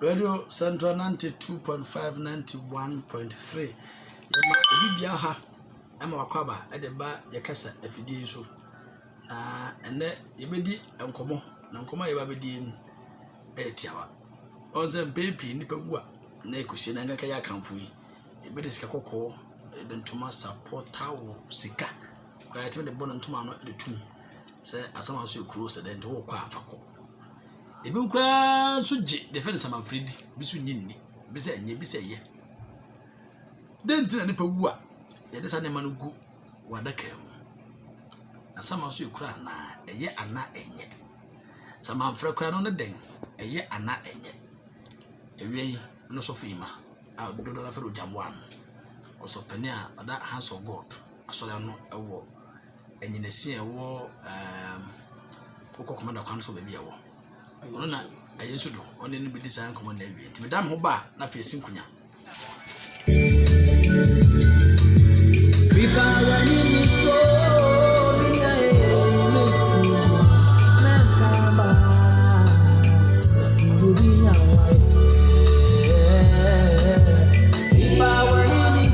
Radio Central 92.5 91.3 yɛma obi bia ha ɛma wakwaba ɛde ba yɛkasa afidie so na ɛnɛ yɛbɛdi nkɔmɔ na nkɔmɔ a yɛba bɛdie no ɛyɛ tiawa ɔn sɛ mpɛn pii nnipa wu a na ɛkɔsie na nkaka yɛ akamfo yi yɛbɛde sika kɔkɔɔ ɛde ntoma sapɔta wo sika Kwan a yɛtumi de bɔ no ntoma no de tu sɛ asaman so yɛ kuro sɛ dɛn nti wokɔ a fa kɔ ebi koraa nso gye deɛ fɛ no samanfiri di bi so nye nni bi sɛ nye bi sɛ yɛ dɛn nti na nipa wu a yɛde saa nneɛma no gu wɔ adaka mu asaman so yɛ kuro anaa ɛyɛ anaa ɛnyɛ samanfrɛ koraa no ne dɛn ɛyɛ anaa ɛnyɛ ewia yi no sɔfo yi ma a dodo na fɛ no gyamboa no ɔsɔfo panin a ɔda house of god asɔre ano wɔ anyinasi a ɛwɔ ɛɛm wokɔ kɔmanda kwan so baabi a ɛwɔ ɔno na ɛyɛ nso do ɔne no bɛdi saa nkɔmmɔ na awie nti meda me ho ba a na afei ɛsi nkonya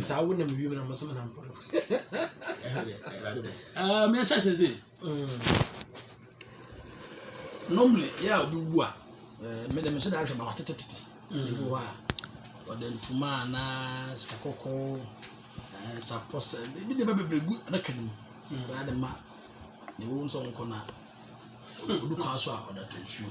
ntaa wo nam wiem na mo sɛ mo nam pɔrɔ ɛɛ mɛ kyɛ sɛ sɛ normally yɛ a obi wu a ɛɛ mɛ dɛ mɛ hyɛ da ahwɛ ma watete tete sɛ bi wɔ a ɔde ntoma anaa sika kɔkɔɔ ɛɛ sapɔ sɛ ebi de ba bebree gu adaka no mu koraa de ma na ewu nso nkɔ na odu kwan so a ɔde ato nsuo.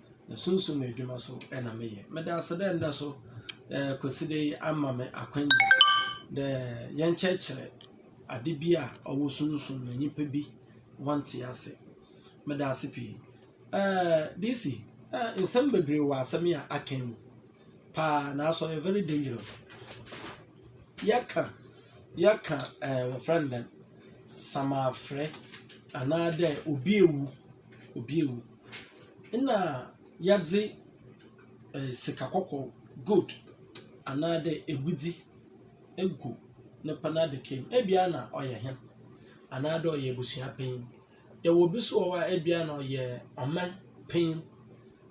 Ne sunsum edwuma so na meyɛ. Meda ase dɛ ndɛ so eh, Kwesida yi ama me akwanya dɛ yɛnkyerɛkyerɛ ade bi a ɔwɔ sunsum na nyimpa bi wɔnntse ase. Meda ase pii. Eh, DC, eh, nsɛm beberee wɔ asɛm yi a akã yi mu paa, naaso ɔyɛ very dangerous. Yɛkã, yɛkã eh, wɔfrɛ no dɛn, samafrɛ, anaadɛ obi ewu, obi ewu. nna yɛdze sika kɔkɔɔ, gold, anaadɛ egudze egu ne pon adaka mu. Ebia nna ɔyɛ hen, anaadɛ ɔyɛ ebusuapanyin. Yɛwɔ bi so wɔ hɔ a ebia nna ɔyɛ ɔman panyin.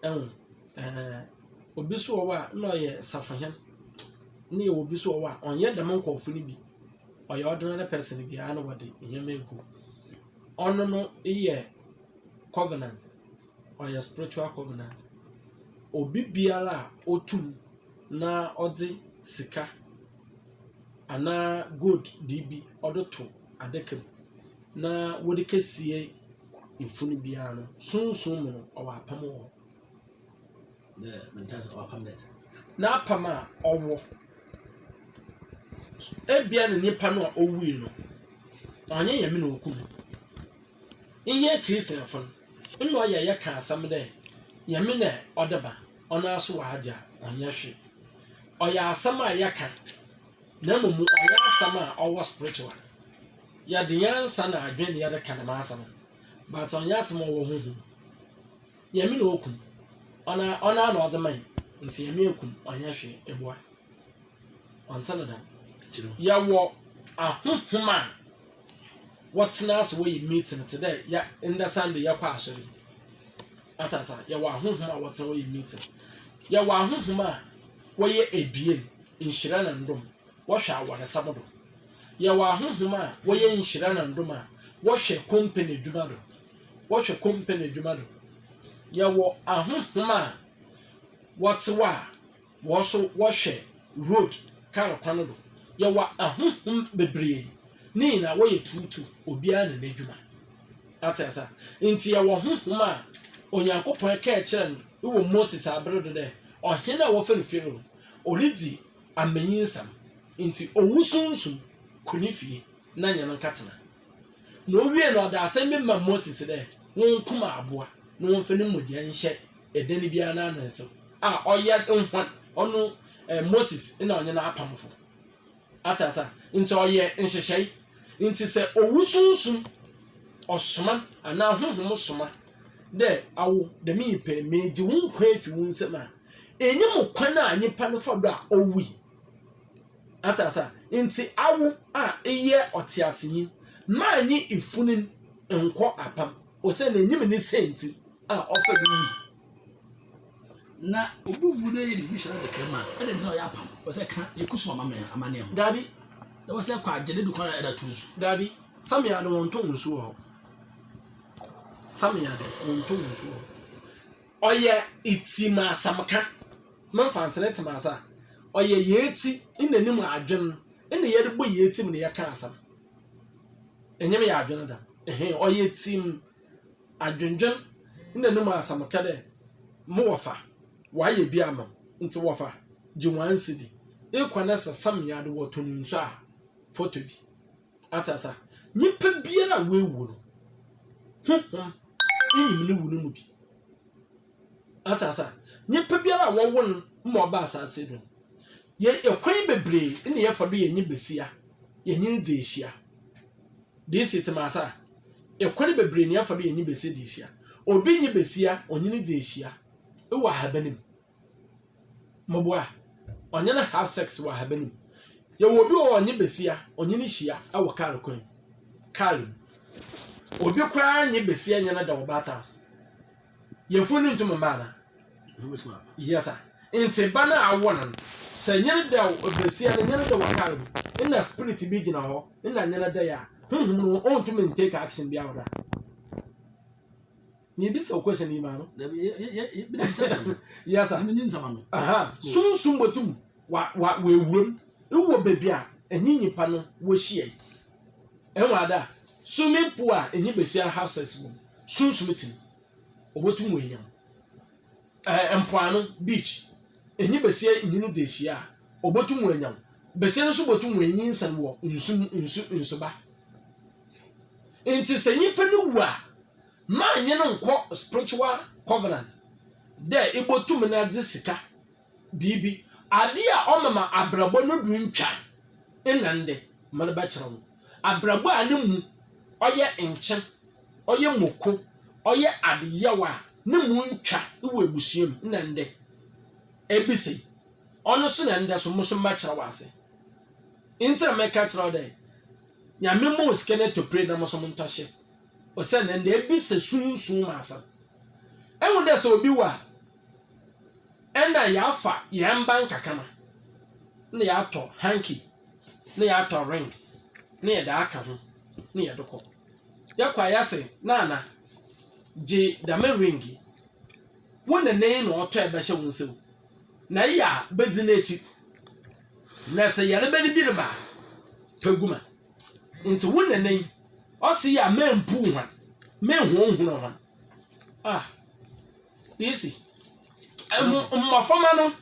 Ehu? Ɛɛn. Obi so wɔ hɔ a nna ɔyɛ safohen, na yɛwɔ bi so wɔ hɔ a ɔnnyɛ dɛm nkorɔfo no bi, ɔyɛ ordinary person biara na wɔdze ndzɛmba egu hɔ. Ɔno no eyɛ. covenant, ɔyɛ spiritual covenant. Obi biara a otu na ɔdze sika anaa gold biribi ɔdze to adaka mu na wɔdze kesie funu biara no, sunsum mu no, ɔwɔ apam wɔ hɔ. N'apam a ɔwɔ, ebia ne nyimpa no a owui no, ɔnnyɛ Nyame na okum no. Nnyɛ Christianfo no nna ɔyɛ yɛkã asɛm dɛ Nyame na ɔde ba, ɔnoara so ɔagye a, ɔnnyɛ hwee. Ɔyɛ asɛm a yɛkã, na mbom ɔnnyɛ asɛm a ɔwɔ spiritual. Yɛdze nyansa na adwen na yɛdze kã dɛm asɛm no, but ɔnnyɛ asɛm a ɔwɔ honhom mu. Nyame na oku no, ɔnoara na ɔdze mae, ntsi Nyame eku no, ɔnnyɛ hwee, eboa. Wɔnte no da. Yɛwɔ ahonhom a wɔtsena ase wɔyɛ meeting tse dɛ yɛ ndɛ Sunday yɛkɔ asɔr yi. Atse ase a, yɛwɔ ahonhom a wɔtsena wɔyɛ meeting. Yɛwɔ ahonhom a wɔyɛ ebien, nhyira na ndom, wɔhwɛ awarsɛm do. Yɛwɔ ahonhom a wɔyɛ nhyira na ndom a wɔhwɛ company edwuma do, wɔhwɛ company edwuma do. Yɛwɔ ahonhom a wɔtse hɔ a Hɔn so wɔhwɛ road, kaar kwan no do. Yɛwɔ ahonhom beberee, ne nyina wɔyɛ tuutuu, obiara na n'edwuma. Atse ase a? Ntsi yɛwɔ honhom a Onyankopɔn kãa kyerɛɛ no wɔ Moses aber do dɛ, ɔhen a wɔfrɛ no Pharaoh no, oridzi amanyinsɛm, ntsi owu sunsum kɔ ne fie na nye no nkɛtsena. na owiei no ɔde asɛm bi maa Moses dɛ, Wonkum abowa na wɔmfa ne mogya nhyɛ dan biara n'ano nsew, a ɔyɛ hɔn, ɔno Moses na ɔnye no apamfo. Atse ase a? Ntsi ɔyɛ nhyehyɛe. Ntsi sɛ owu sunsum ɔsoma anaa honhom soma dɛ, Awo, dɛm nyimpa yi, megye wo nkwa efi wo nsamu a, enye mu kwan a nyimpa no fa do a owui. Ate ase a? Nti awo a eyɛ ɔteasenyi, mma enye ifunin nnkɔ apam, osiandɛ inyim ne sɛɛ ntsi a ɔfa do wui. Na obi wu na eyɛ ne nyinsɔn adaka mu a, adɛn ntsi na ɔyɛ apam? Ɔsɛ kã ekosu amamɛn amanneɛ ho. Dabi. Na wɔsɛ ɛkɔ agye ne dukɔn a ɛda to nsu. Dabi. Samia de wɔntɔ nsu wɔ hɔ. Samia de wɔntɔ nsu wɔ hɔ. Ɔyɛ etsi mu asɛmka, me mfa ntsena etsi mu asa, ɔyɛ yetsi nna no mu adwen, nna yɛdze bɔ yetsi mu na yɛka asɛm. Enye me yɛ adwen dɛm, ehe, ɔyɛ etsi mu adwendwen nna no mu asɛmka dɛ, mo wɔfa, wɔayɛ bi ama wo, ntsi wɔfa, gye wɔn nsi bi, ekɔ na sesa mia do wɔtɔn nsu a, fɔtɔ bi. Wate asa? Nyimpa biara a woewu no, honhom nyim no wu no mu bi. Wate asa? Nyimpa biara a wɔwo no ma ɔba asaase do no, yɛ kwan beberee na yɛfa do yɛnye besia, yɛnye no dzi ehyia. Desi tse me ase a? Kwan beberee na yɛfa do yɛnye besia dzi ehyia. Obi nye besia ɔnye no dzi ehyia wɔ ahaban mu. Moboa ɔnye no have sex wɔ ahaban mu. Yɛwɔ obi wɔ hɔ ɔnye basia ɔnye no hyia wɔ kaar kwan mu, kaar mu. Obi koraa nye basia nye no da wɔ bat house. Yafunu no nntum mba anaa? Yes sir. Ntsi ba no a awo no no, sɛ nye no da wɔ, basia no nye no da wɔ kaar mu, nna spirit bi gyina hɔ nna nye no da yɛ a, honhom no onntum nntake action biara wɔ do a. Mebisa wo question yi maa no. Dabi, yɛ yɛ yɛ yɛ bi na bisa question no. Yes sir. Ɛmi ni nsɛm ano. Aha, sunsum botum wa wa w'ewuram ewɔ beebi a enye nyimpa no wohyia yi. Ehu ada? Swimming pool a enye basiara have sex wɔ mu, sunsum tse mu, obotum oenya mu. Ɛɛ mpoano, beach, enye basia nye no dze ehyia a, obotum oenya mu. Basia no so botum oenyinsɛn wɔ nsu mu, nsu nsuba. Ntsi sɛ nyimpa no wu a, Mma nnye no nnkɔ spiritual covenant dɛ ibotum na dze sika biribi. Ade a ɔma ma abrabɔ no do nntwa nna ndɛ, mma no bɛkyerɛ wo. Abrabɔ a no mu ɔyɛ nkyen, ɔyɛ moko, ɔyɛ ade yaw a no mu nntwa wɔ ebusua mu nna ndɛ, ebisa yi. Ɔno so na ndɛ so mo so mɛkyerɛ wo ase. Ntsi na meka kyerɛ wo dɛ Nyame mma wo sika no to pray na mo so montɔ hyɛ. Osiandɛ ndɛ bi sɛ sunsum mu asɛm. Ehu dɛ sɛ obi wu a, nna yɛafa hɛn mba nkakramba na yɛatɔ hanky na yɛatɔ ring na yɛdze aka ho na yɛdze kɔ. Yɛkɔ a yɛse, Nana, gye dɛm ring yi. Wo nana yi na ɔtɔe bɛhyɛ wo nsamu, na eyɛ a bedzi n'ekyir. Na sɛ yarba no bi reba a, pɛ gu ma. Ntsi wo nana yi. Ɔse a mempuu hɔn, mennhonhonoo hɔn. Ah, DC, mbo mbofrmba no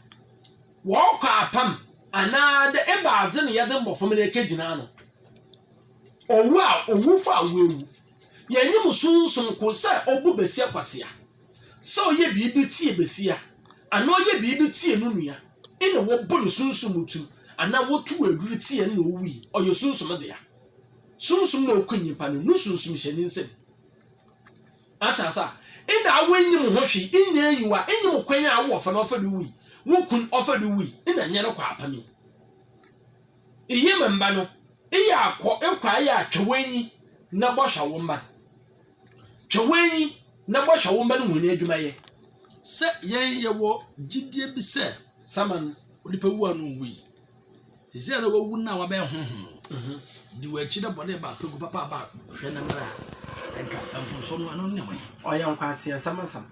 wɔkɔ apam anaa dɛ ebɛadze na yɛdze mbofrmba no ekegyina ano? Owu a owufo a oewu, yenyim sunsum kor sɛ ɔbɔ basia kwasia, sɛ ɔyɛ biribi tsie basia anaa ɔyɛ biribi tsie no nua nna wɔbɔ no sunsum mu tum anaa wɔtow edur tsie no na owui, ɔyɛ sunsum dea. Sunsum na oku nyimpa no, no sunsum hyɛ ne nsamu. Atse ase a? Nna awo nnyim ho hwee, nnyɛ enyiwa, nnyim kwan a awo ɔfa no ɔfa do wui, wo kun ɔfa do wui, nna nnyɛ no kwaapam yi. Iyi me mba no, eyɛ a kɔ, ekɔ a eyɛ a twa w'enyi na bɔhwɛ wo mba no. Twa w'enyi na bɔhwɛ wo mba no hɔn edwumayɛ. Sɛ yɛn yɛwɔ gyidie bi sɛ Saman onipa wu a no nwui. te sɛ dɛ wawu no a wabɛyɛ honhom no di wɔ akyi dɛ bɔne ba pegu papa aba hwɛ ne mmerɛ a nka mfomsoɔ no ɛno ne wɔn ɔyɛ nkwaseasɛm asɛm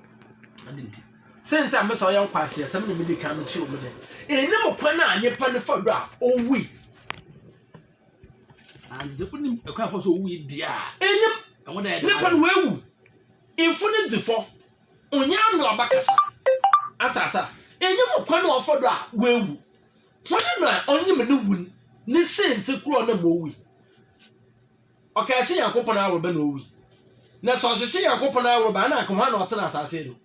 ade nti sɛ nti a mesa ɔyɛ nkwaseasɛm na mede kan mekyerɛ mu dɛ ɛni mo kwan a nyepa no fa do a owui and sɛ wonim ɛkwan afa so owui deɛ a ɛnim ɛho dɛ nipa no wawu mfo no dzi fɔ onyɛ ano aba kasa atasa ɛni mo kwan a ɔfa do a wawu Hwan na ɔnyim no wu ne siantsir kor a ɔnam mu owui? Ɔkãe se Nyankopɔn aworba na owui. Na sɛ ɔhyehye Nyankopɔn aworba a, nna anka hwan na ɔtse n'asaase do?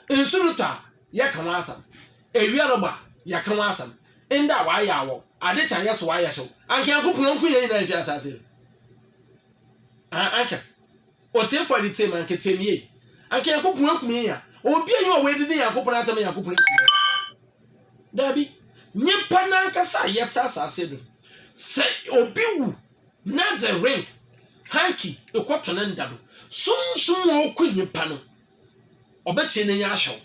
Nsu rotɔ a, yɛkã ho asɛm. Ewia robɔ a, yɛkã ho asɛm. Nda a, wɔayɛ awɔw. Adze kye a, yɛse wɔayɛ hyew. Anka Nyankopɔn nnko hɛn nyina nnhwe asaase do? Aah, anka. Ɔtiefoɔ de tie me, anka tie me yei, anka Nyankopɔn akum yɛn a, obi a ɔwɔ edidi Nyankopɔn atam a Nyankopɔn akum no. Daabi, nyimpa no ankasa a yɛtse asaase do, sɛ obi wu na dze ring, hanky, ekɔto ne nda do, Sunsum a ɔkɔ nyimpa no, ɔbɛkyee n'enyi ahwɛ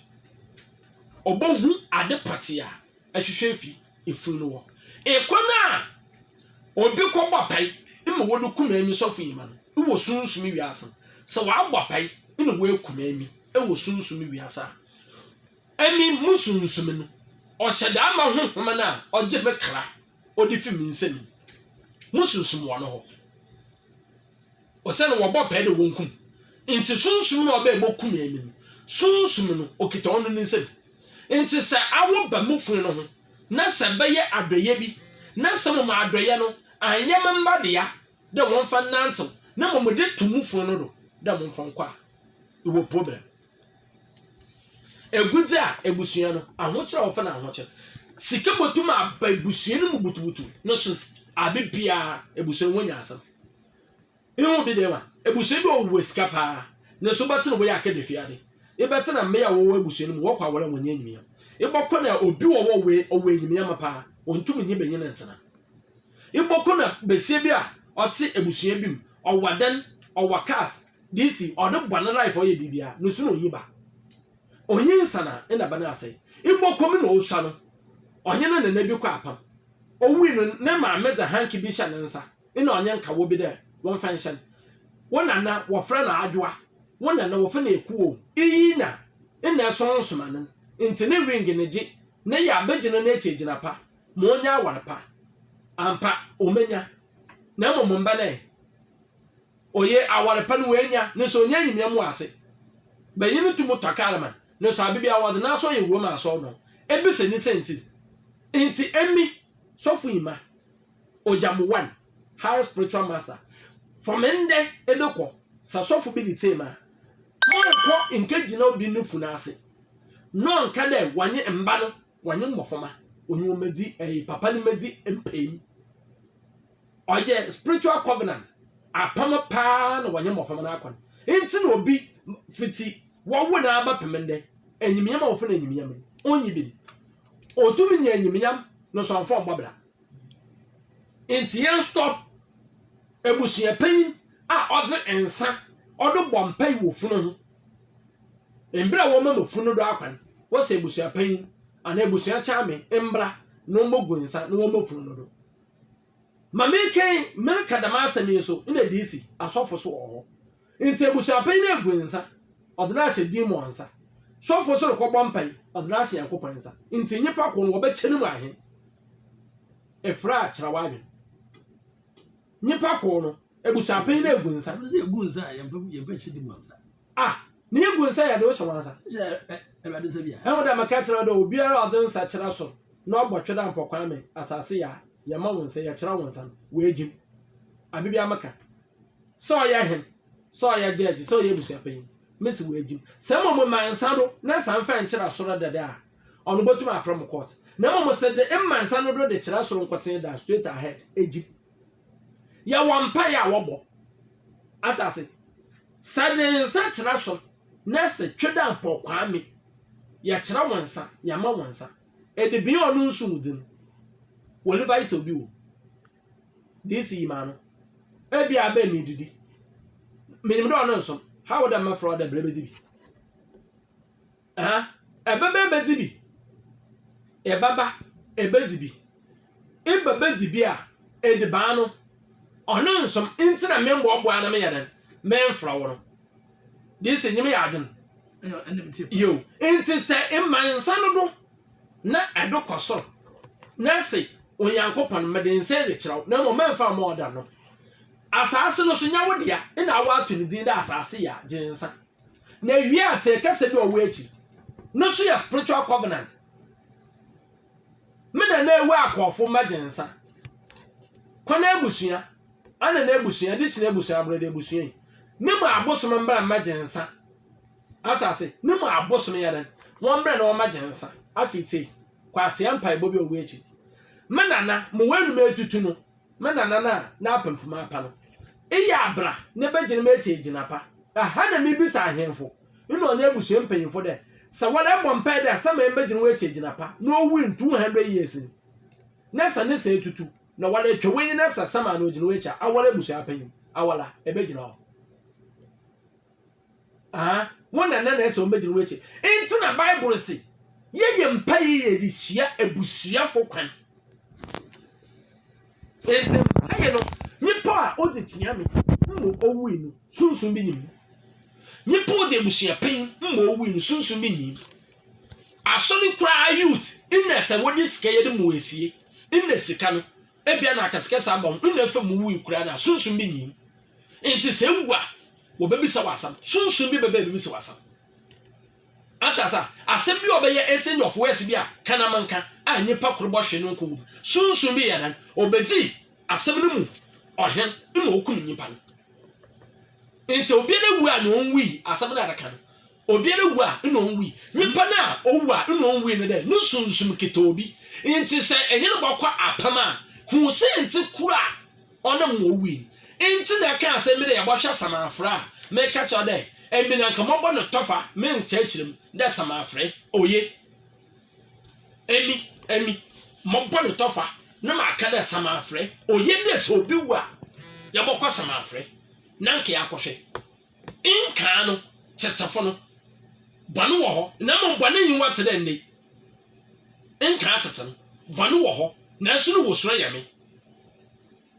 wo, obohu ade pɔtsee a ehwehwɛ efi. efunu no wɔ. Kwan a obi kɔbɔ apae ma wɔde kum Amy Sɔfoyi ma no wɔ sunsum wiase. Sɛ wɔabɔ apae na wɔakum Amy wɔ sunsum wiase a, Amy mu sunsum no, ɔhyɛ da ma honhom no a ɔgye me kra, ɔde fi me nsam yi, mu sunsum wɔ no hɔ. Osian wɔbɔ pɛɛ dɛ wonkum ntsi, sunsum no a ɔbaa mu kumee no no, sunsum no okitsa ɔno ne nsamu. Ntsi sɛ awo ba mu fun no ho na sɛ bɛyɛ adɔyɛ bi, na sɛ mbom adɔyɛ no annyɛ me mba dea dɛ wɔmfa nnantsew na mbom mede to mu fun no do dɛ momfa nkɔ a, ewɔ problem. Egudze a ebusua no ahokyer a wɔfrɛ no ahokyer sika botum aba ebusua no mu butubutu no so aber biara, ebusua no wonya asɛm. Ihu bi dɛ ma ebusua bi a wɔwɔ sika paa no so bɛtse no wɔyɛ akadzefiadze. Ebɛtse dɛ mbea a wɔwɔ ebusua no mu wɔkɔ awar a wɔnnyɛ enyimnyam. Ebɔkɔ na obi wɔ hɔ a ɔwɔ ɔwɔ enyimnyam paa, onntum nye banyin nntsena. Ebɔkɔ na basia bi a ɔtse ebusua bi mu, ɔwɔ adan, ɔwɔ cars, DC, ɔde bɔ no life ɔyɛ biribiara, no su na onnyi ba. Onnyi nsan a nna ba no asɛe. Ebɔkɔ mu na osua no, ɔnye ne nana bi kɔ apam. Owui no, ne maame dze hanky bi hyɛ ne nsa. Nna ɔnye nkawo bi dɛ wɔmfa nhyɛ no. Wo na nna wɔfrɛ no Adwoa, wo na nna wɔfrɛ no Ekuo. Iyi na nna ɛsɔn nsomanon ntsi ne ring ne gye ne yɛ abegyina n'ekyi egyina pa ma onya awar pa. Ampa, omenya. Na mbom mba no ɛ? Oye awar pa no oenya, nso onye enyimia mu ase. Banyin no tum tɔ kaar ma no, nso aber biara wɔdze n'aso ɔyɛ wura mu asɔr no ho. Ebisa ne siantsir. Ntsi emi, sɔfo Imah. Ojamuwan, High Spiritual Master, Fa me ndɛ ebe kɔ, sɛ sɔfo bi bitsee me a, ma ɔnkɔ nkegyina obi no fun ase, na ɔnka dɛ wɔnye mba no, wɔnye mbofrmba, ɔnye hɔn mbedzi ɛɛ papa no mbedzi mpaem. Ɔyɛ spiritual covenant, apam paa na wɔnye mbofrmba no akɔ no. Ntsi na obi fitsi wɔwo no ara bɛpem ndɛ, enyimnyam a wɔfrɛ no enyimnyam no, onnyi bi no, otum nya enyimnyam no so ɔmmfa ɔmmbɔ bra. Ntsi yɛnsɔ ebusuapanyin a ɔdze nsa ɔdo bɔ mpaa wɔ fun ho. Mber a wɔma no fun no do akwan, wɔsɛ ebusuapanyin anaa ebusua kyaame mbra na wɔmbogu nsa na wɔmɔ fun no do. Ma menkɛn mereka dɛm asɛm yi so nna DC, asɔfo so wɔ hɔ. Ntsi ebusuapɛn no egu nsa, ɔdze no ahyɛ demon nsa. Sɔfo so rokɔbɔ mpae, ɔdze no ahyɛ Nyankopɔn nsa. Ntsi nyimpa kor no, wɔbɛkyɛ no mu ahen? Efra a, kyerɛ w'adwen. Nyimpa kor no, ebusuapɛn no egu nsa. Ɔno dze egu nsa a, yɛmfa yɛmfa nhyɛ demon nsa. Ah, ne egu nsa yɛ dze wo hyɛ woan nsa. Hyɛ Ewuradze nsa bi a. Ehu dɛ mekã kyerɛ wo dɛ, obiara a ɔdze nsa kyerɛ sor na ɔbɔ twerdam pɔ Kwame, asaase yɛ a, yɛma wo nsa, yɛkyerɛ wo nsa no, oegye mu. Aber biara mekã. sɛ ɔyɛ hen, sɛ ɔyɛ gyɛɛgye, sɛ ɔyɛ ebusuapanyin, mese oegye mu. Sɛ mbom mema nsa do na nsa mmfa nnkyerɛ asɔr dɛdɛ a, ɔno botum afrɛ mo kɔɔt. Na mbom mese de mma nsa no do de kyerɛ sor nkotsee da, straight ahead, egye mu. Yɛwɔ mpaa a wɔbɔ. Atse ase? Sɛ de nsa kyerɛ sor na se Twedampɔw Kwame, yɛkyerɛ wo nsa, yɛma wo nsa. Edibea a ɔno nso wodzi no, wɔ Levite a obi wɔ mu. Dee sii maa no. Ebia abɛn me edidi. Minyim dɛ ɔno nnsom. Hao dɛ mɛfrɛ wo dɛ bra ebedzi bi. Aha, ebɛba ebedzi bi. Ebɛba ebedzi bi. Eba bedzi bi a, edibaan no, ɔno nnsom ntsi na memmboaboa na meyɛ dɛn, memmfrɛ wo no. Dee sii nyim yɛ adwen. Yiw, ntsi sɛ ema nsa no do. na ɛdo kɔ soro, na se, Onyankopɔn, mede nse rekyerɛ wo, na mmom mɛmfa mma ɔda no. Asaase no nso, nyɛ wo dea, ena a wɔato no din dɛ asaase yi a, gye nsa. Na ewie a, tse kasa bi a ɔwɔ akyiri no nso yɛ spiritual covenant, Me na n'awu akɔɔfo mma gye nsa. Kɔ n'abusua, ana n'abusua, de kyerɛ abusua, aborɔde abusua yi, no mu abosom mbra mma gye nsa. Asase no mu abosome yɛ dɛn? Wɔmmrɛ na wɔmmɛgye nsa. Afei tie kwasea mpaebɔ bi a ɔwɔ akyiri. Me nana, mewɔ anum atutu no, me nana no a n'apampam apa no, eyɛ a bra ne bɛgyina m'akyi agyina pa. Ɛha na mebisa ahemfo ne ɔne abusua mpanyimfo dɛ, sɛ wɔn ɛbɔ mpae dɛ sɛ me mbɛgyina wɔn akyi agyina pa na ɔwu in two hundred years ni, na sɛ ne sa atutu na wɔn atwa w'enyi na sɛ sɛm a na ɔgyina w'akyi a, awɔn abusua panyin, awɔla, ɛbɛgyina hɔ. Aa wɔn na na na ɛsɛ wɔn bɛgyina wɔn akyi. Nti na Bible se yɛyɛ mpa yie de sua abusuafo kwan. Nti mpa yɛ no nipa a ɔde tia me mmɔ owui no sunsun bi nim. Nipa ɔde abusuapɛn mmɔ owui no sunsun bi nim. Asɔre koraa youth nna sɛ wɔde sika yɛde mu esie nna sika no. Ebia na akɛsekɛse aba wo nna fam mu wui koraa na sunsum bi nyin. Enti sɛ ewu a, wɔbɛbisa wo asɛm. Sunsum bi bɛba abɛbisa wo asɛm. Ate ase a, asɛm bi a ɔbɛyɛ exchange of words bi a ka na menka a nnipa koro bɔ hwee no nkɔ wom. Sunsum bi yɛ dɛn? Ɔbɛdi asɛm no mu ɔhen na ɔkum nnipa no. Enti obiara wu a na ɔnwui, asɛm no a ɛbɛka no. Obiara wu a nna onnwui. Nyimpa no a owu a nna onnwui no dɛ no sunsum kitsa obi. Ntsi sɛ enye no bɔkɔ apam a, hu siantsir kor a ɔnam ma owui no. Ntsi na eka asɛm bi dɛ yɛbɔhwɛ samafora a, meka kyerɛ wo dɛ emi na nka mɔbɔ no tɔfa me nkyerɛkyerɛ mu dɛ samafora, oye. Emi, emi, mɔbɔ no tɔfa na maaka dɛ samafora, oye dɛ sɛ obi wu a yɛbɔkɔ samafora na nka yɛakɔhwɛ. Nkaa no tsetsefo no, bɔn wɔ hɔ, na mbom bɔn enyiwa tse dɛ ndɛ yi. Nkaa tsetse no, bɔn wɔ hɔ, naaso no wɔ suro yɛ me.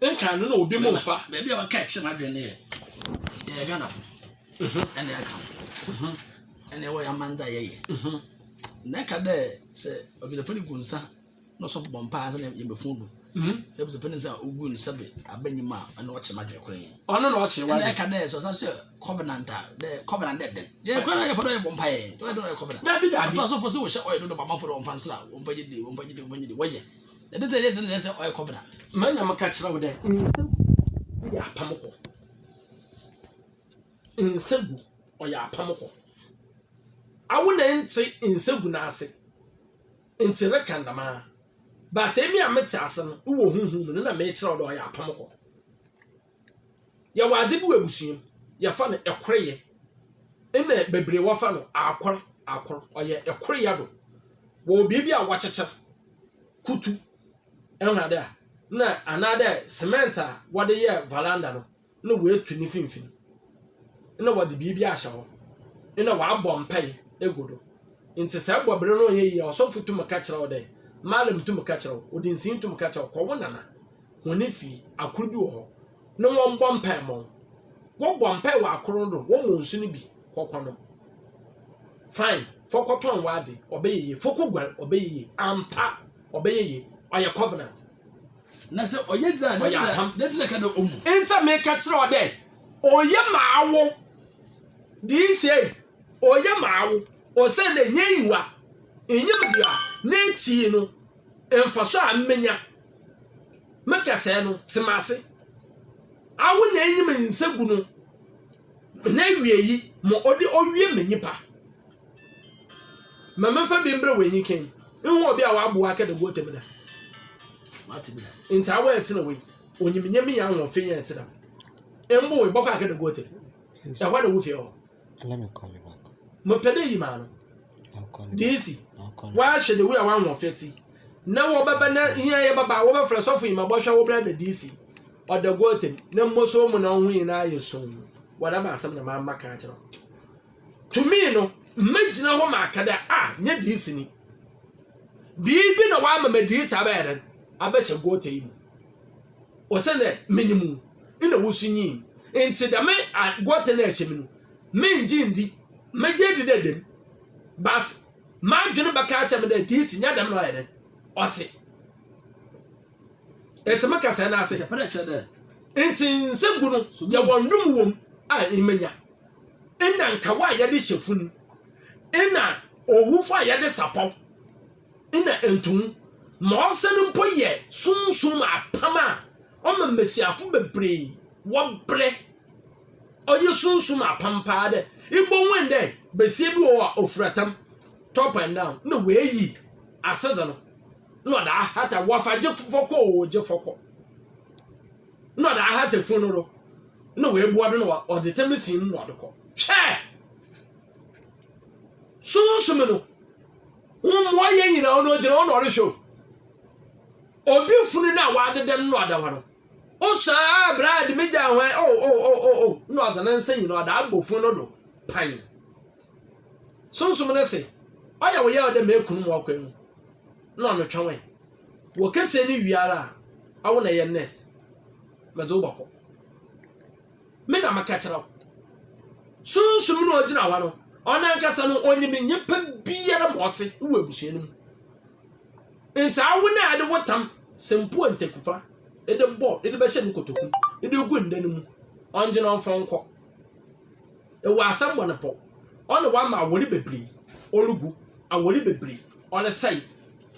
Nkaa no na obi mo mfa. Beebi a wɔkaa kyerɛ m'adwen no yɛ, yɛyɛ Ghanafo, na yɛka ho, na yɛwɔ yɛ aman dze a yɛyɛ. Na nka dɛ sɛ ɔdwontofa no gu nsa. na ɔsɔfo bɔ mpaa sɛ yɛn bɛfun do na bisa pɛne sɛ ogu no sɛbe abɛnyim a ɛna ɔkyerɛ ma dwekora yi ɔno na ɔkyerɛ wa ɛka dɛ sɛ ɔsan sɛ covenant a dɛ covenant dɛ dɛn yɛ kora na yɛfa dɛ yɛbɔ mpaa yɛ dɛ ɔyɛ covenant dabi dabi ato asɔfo sɛ wɔhyɛ ɔyɛ dodo bamafo dɛ ɔmfa nsra ɔmfa gye de ɔmfa gye de ɔmfa gye de wɔyɛ ɛde sɛ yɛ sɛ sɛ ɔyɛ covenant ma na maka kyerɛ wo dɛ nsɛm yɛ apam kɔ nsɛgu ɔyɛ apam kɔ awo na ɛnte nsɛgu n'ase ntsi reka dɛm ara, but emi a metse ase no, ewɔ honhom mu no nna merekyerɛ wo dɛ ɔyɛ apam kor. Yɛwɔ adze bi wɔ ebusua mu, yɛfa no koryɛ. Nna beberee wɔfa no akor akor, ɔyɛ koryɛ do. Wɔwɔ biribi a wɔkyekyer, kutu, ehu ade a, nna anaadɛ cement a wɔdze yɛɛ varanda no, na woetu ne finimfin, nna wɔdze biribi ahyɛ hɔ, nna wɔabɔ mpaa egu do. Ntsi sɛ ebɔ ber no a ɔnnyɛ yie a, ɔsɔfo tum ka kyerɛ wo dɛ, Malam tum ka kyerɛ wo, ɔdinsinyi tum ka kyerɛ wo, kɔ wo nana hɔn fie, akor bi wɔ hɔ, na wɔmbɔ mpaa mma wo. Wɔbɔ mpaa wɔ akor no do, wɔma wo nsu no bi, kɔ kɔnom. Fine, fa kɔtɔn w'adze, ɔbɛyɛ yie, fa koguar, ɔbɛyɛ yie, ampa, ɔbɛyɛ yie, ɔyɛ covenant. Na sɛ ɔyɛ dze a, dɛn na dɛn na ka dɛ omu? Ntsɛ meka kyerɛ wo dɛ, oye ma awo dii sei, oye ma awo, osiandɛ nnyɛ enyiwa, nnyim bia n'ekyir no mfaso a mebenya. Me kɛsɛɛ no, tse m'ase. Awo na enyim nsagu no. N'awiei, ma ɔde owie ma nnipa. Ma memfa bi mbrɛ w'enyi kan. Ihu obi a ɔaboa akɛda guɔta mu da? Matse bi da. Ntaa w'ɛtsena wei. Onyim nyɛ me yɛ ahoɔfe yɛ ɛtse dɛm. Mbo wei bɔkɔ akɛda guɔta mu. Ɛhɔ na wo fie wɔ. Let me call you back. Mepɛ dɛ yi maa no. Diisi, woahyɛ da wi a woahoɔfɛ ti. Na wɔbɛba na hia yɛ bɛba a wobɛfrɛ sɔfo yi ma bɔhwɛ wo brada diisi. Ɔda guatam, na mmosoɔ mu na wo ho nyinaa ayɛ sum. Wɔda m'asɛm na mamma ka akyerɛ wo. Tumi no, mɛgyina hɔ ma aka dɛ, a, nyɛ diisi ni. Biribi na wɔama ma diisi abɛyɛ dɛn? Abɛhyɛ guata yi mu. Ɔsɛ dɛ menim wo, nna wo so nyin. Nti dɛm guata no a ɛhyɛ mu no, mengye ndi, mɛgye adi dɛ ɛda mu. But m'adwene bɛka akyerɛ me dɛ diisi nyɛ dɛm na ɔyɛ dɛn? Ɔte. Enti meka sɛɛ na ase. Enti nsɛm gu no yɛ wɔn dom wom a mmenya. Nna nkawa a yɛde hyɛ fun. Nna owufo a yɛde sapɔw. Nna ntomu ma ɔsɛn mpo yɛ sunsum apam a ɔma mmesiafo bebree wɔbrɛ. Ɔyɛ sunsum apam paa dɛ ibohu ndɛ besia bi wɔ hɔ a ofura tam, top and down, na oeyi asedze no. na ɔde ahata wɔfa gye fɔkɔ o gye fɔkɔ na ɔde ahata fun no do na wɔabua do na ɔde tɛm sin na ɔde kɔ hwɛ sunsun no wɔn mu ɔyɛ nyinaa ɔno ɔgyina ɔno ɔrehwɛ o obi funu no a wɔadeda no na ɔda hɔ no wosaa abira a de me gya hwan o o o o o na ɔdze ne nsa nyina ɔda abɔ fun no do pan sunsum no se ɔyɛ wo yɛ ɔdɛ mekunu mu ɔkwan mu na wɔatwɛn wo ɛ. Wɔ kɛseɛ no wie ara a, awo na ɛyɛ nurse. Medze wo bɔkɔ. Me na meka kyerɛ wo. Sunsum no a ɔgyina hɔ no, ɔno ankasa no, ɔnyim nyimpa biara ma ɔtse wɔ ebusua no mu. Ntsi awo no a ede wo tam Sempuo Ntekufa ede bɔ, ede bɛhyɛ no kotoku, ede gu nda no mu, ɔngye no mfa wo nkɔ. Ewɔ asɛm bɔ no pɔ. Ɔne w'ama awɔre bebree ɔregu, awɔre bebree ɔresɛe,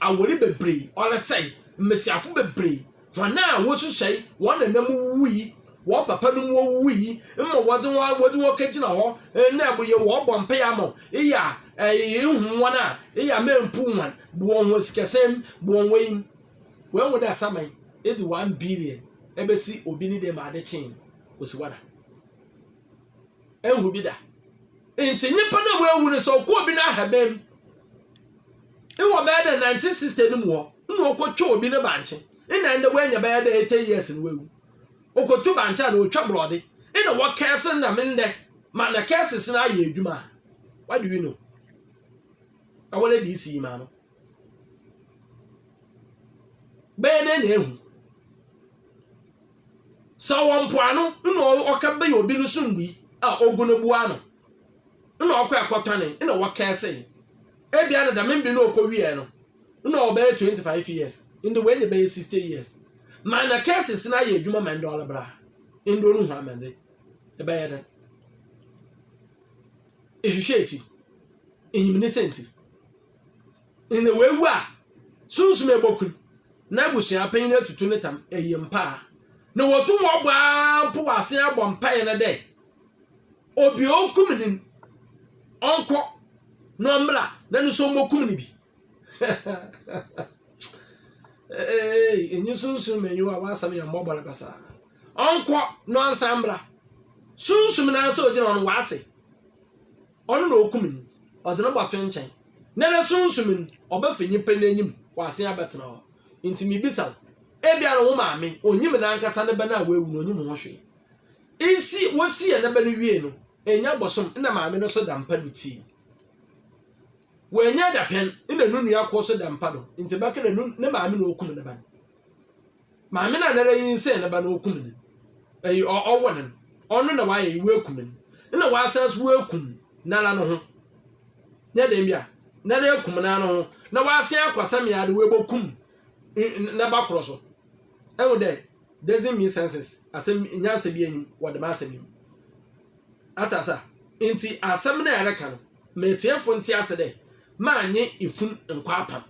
awɔre bebree ɔresɛe, mmesiafo bebree, hɔn a wosusuai hɔn nana mu wuwui, hɔn papa no mu owuwui, mma wɔdze hɔn a wɔdze hɔn kegyina hɔ na eboye wɔbɔ mpaa ama wo, eyɛ a ehu hɔn a, eyɛ a memmpuw hɔn, bwɔn hɔn sikasɛm mu, bwɔn hɔn eyi mu. Woehu dɛ asaman edzi one billion ebesi obi ne dɛm adze kyee no, osiwada. Enhu bi da. Nti nyimpa no a oewu no sɛ ɔkɔ obi n'ahaban mu ewɔ bɛyɛ dɛ nineteen sixty no mu hɔ nna ɔkɔtwa obi ne bankye nna ndɛ oenya bɛyɛ dɛ eighty years na oewu. Okotu bankye a na otwa borɔdze nna wɔkɛɛse no dɛm ndɛ ma na kɛɛses no ayɛ edwuma a what do you know? Awɔredi isi yi maa no. Bɛyɛ dɛn na ahu? Sɛ ɔwɔ mpoano na ɔka bɛyɛ obi no so nnui a ogu no boa ano na ɔkɔ ɛkɔtɔne na wɔkɛse no. Ebia na dɛm mbe no ɔkɔwiɛ no na ɔbɛyɛ 25 years nde wei ne bɛyɛ 60 years. Ma na kɛses no ayɛ adwuma ma ndɛ ɔlebra nde ɔno hu amɛdze. Ɛbɛyɛ dɛn? Ehwehwɛ akyi. Ehim ne sɛ nti. Ndɛ oewu a, sunsum eboku no, na ebusua panyin etutu ne tam, eyi mpa a. Na wotum wɔbɔ ara mpo wɔ asen abɔ mpae no dɛ, Obi a okum no no, ɔnkɔ na ɔmbra na no so mbokum no bi. Eeii, enye sunsum ma enyiwa a w'asɛm yɛ mbɔbɔ no basaa. Ɔnkɔ na ɔnsan mbra. Sunsum no ara sɛ ogyina hɔ no, ɔatse. Ɔno na okum no, ɔdze no bɔto nkyɛn, na no sunsum no, ɔbɛfa nyimpa n'enyim, ɔasen abɛtsena hɔ. Ntsi mibisa wo, ebia no wo maame, onnyim nankasa ne ba no a oewu no, onnyim ho hwee. Nsi, wosiee ne ba no wiei no, ennya bosoom nna maame no so da mpa do tsii. Oennya dapɛn nna no nua kor so da mpa do, ntsi bɛka dɛ no ne maame na okum ne ba no. Maame no a nara nyinsɛn no ba no okum no, ɛy ɔ ɔwo no, ɔno na w'ayɛ yi, w'akum no, nna w'asan so w'akum nara no ho, nyɛ dɛn bi a, nara akum nara no ho, na w'asan akɔ same ara de w'abɔkum n naba korɔ so. Ɛhu dɛ, doesn't mean senses, asɛm nyansa bi anim wɔ dɛm asɛm yi mu. Ate ase a? Ntsi asɛm no a ɛreka no, ma etsiefo ntse ase dɛ, M'annye efun nnkɔ apam.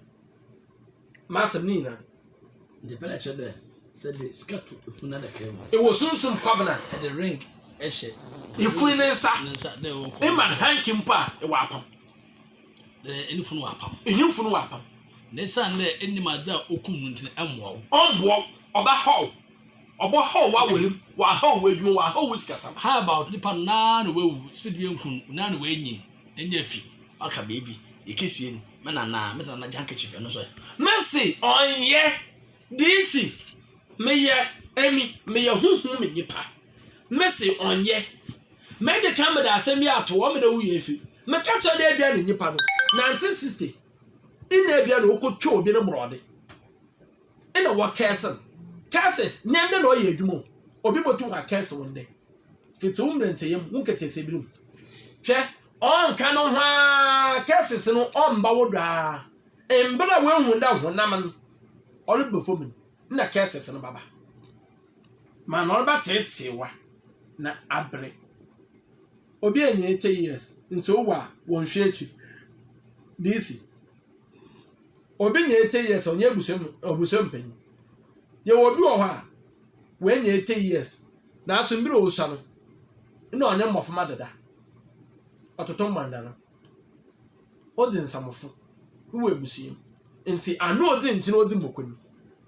M'asɛm ne nyina de pɛ na kyerɛ dɛ sɛ de sika to efun n'adaka mu. Ewɔ sunsum kwabena de ring hyɛ efun ne nsa ne ma hanky mpo a, ewɔ apam. Dɛ ene fun wɔ apam. Ehe fun wɔ apam? Na esiane dɛ ennim adze a okum no ntsi no, mboa wo. Ɔmboa wo, ɔbɛhaw wo. Ɔbɔ haw wa aware mu, wa haw wa adwuma mu, wa haw wa sikasam. How about nipa no na na wa wu, speed bi enku no, na na wa nyin, ne nya fi, aka baby, ye kesie no, me nana, me se nana gye handkerchief ɛno nso ɛ. Me se ɔnyɛ, DC, me yɛ, emi, me yɛ huhum me nipa, me se ɔnyɛ, me de kan me de asɛm bi ato hɔ, me na wu yɛ efi, me ka kyerɛ dɛ ebia ne nipa no, 1960, nna ebia na ɔkɔ twɛ obi ne borɔde. nna wɔkɛɛse no. Curses, nyɛ ndɛ na ɔyɛ edwuma o. Obi botum ɔakɛɛse wo ndɛ, fitsi wo mberantsɛyɛ mu, wo nketseesee ber mu. Hwɛ, ɔnnka no ho ara, curses no ɔmmba wo do ara. Mber a woehu dɛ honam no ɔreba famu no, nna curses no bɛba. Ma na ɔrebɛtseetsee wo a, na aberɛ. Obi enya eighty years, ntsi owu a, wɔnnhwɛ ekyir. DC. Obi nya eighty years a ɔnyɛ abusua mu abusua mu panyin. Yɛwɔ obi wɔ hɔ a wanya eighty years nanso mmerɛ a ɔresua no na ɔnyɛ mmɔframa dada. Ɔtoto mmanda no. Ɔdze nsamofo wɔ abusua mu. Nti ano ɔdze nkyene ɔdze mmoko no